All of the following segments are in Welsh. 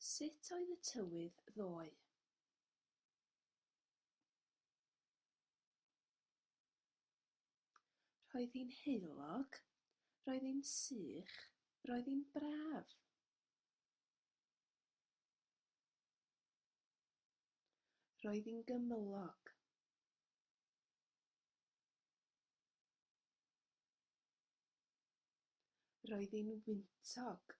Sut oedd y tywydd ddoe? Roedd hi'n heulog, roedd hi'n sych, roedd hi'n braf. Roedd hi'n gymylog. Roedd hi'n wyntog.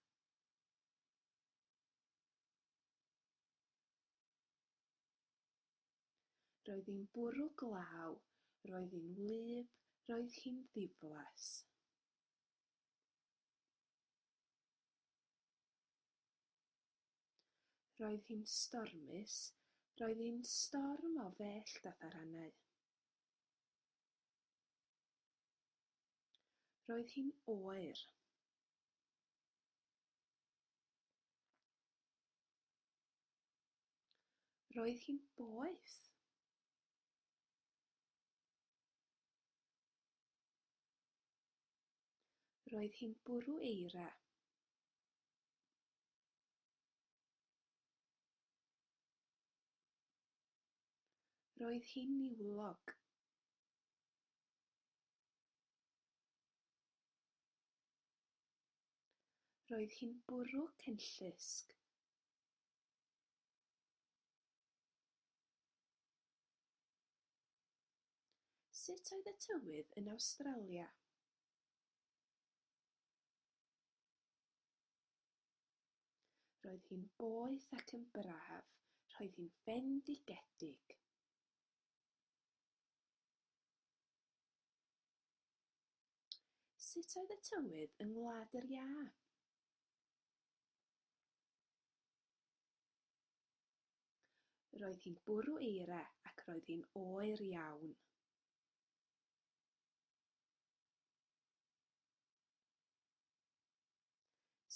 Roedd hi'n bwrw glaw, roedd hi'n wlyb, roedd hi'n ddiflas. Roedd hi'n stormus, roedd hi'n storm o fellt a tharanau. Roedd hi'n oer. Roedd hi'n boeth. Roedd hi'n bwrw eira. Roedd hi'n niwlog. Roedd hi'n bwrw cenllysg. Sut oedd y tywydd yn Awstralia? Roedd hi'n boeth ac yn braf. Roedd hi'n fendigedig. Sut oedd y tywydd yng Ngwlad yr Iâ? Roedd hi'n bwrw eira ac roedd hi'n oer iawn.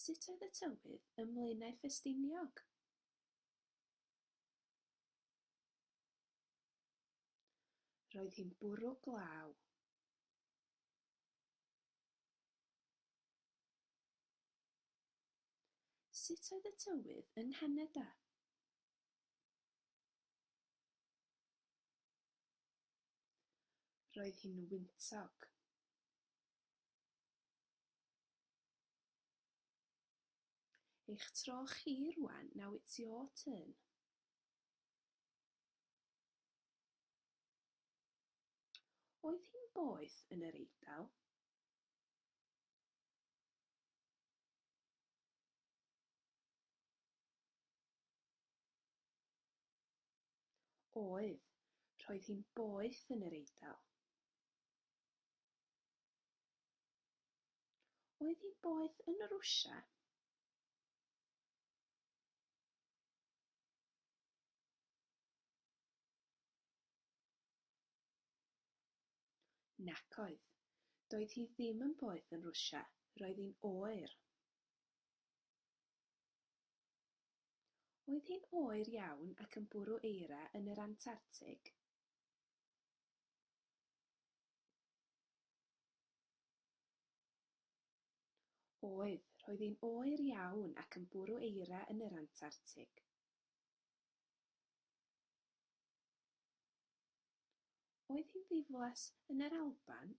Sut oedd y tywydd ym Mlaenau Ffestiniog? Roedd hi'n bwrw glaw. Sut oedd y tywydd yng Nghanada? Roedd hi'n wyntog. Eich tro chi rwan, now it's your turn. Oedd hi'n boeth yn yr Eidal? Oedd. Roedd hi'n boeth yn yr Eidal. Oedd hi'n boeth yn Rwsia? Nac oedd. Doedd hi ddim yn boeth yn Rwsia. Roedd hi'n oer. Oedd hi'n oer iawn ac yn bwrw eira yn yr Antartig? Oedd, roedd hi'n oer iawn ac yn bwrw eira yn yr Antartig. Oedd hi'n ddiflas yn yr Alban?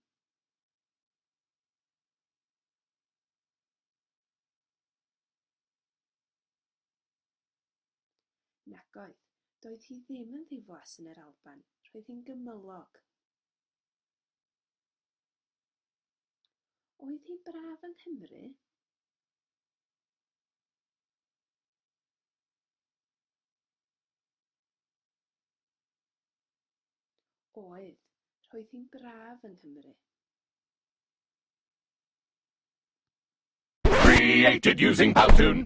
Nagoedd, doedd hi ddim yn ddiflas yn yr Alban, roedd hi'n gymylog. Oedd hi'n braf yng Nghymru? Oedd, roedd hi'n braf yng Nghymru. Created using Powtoon!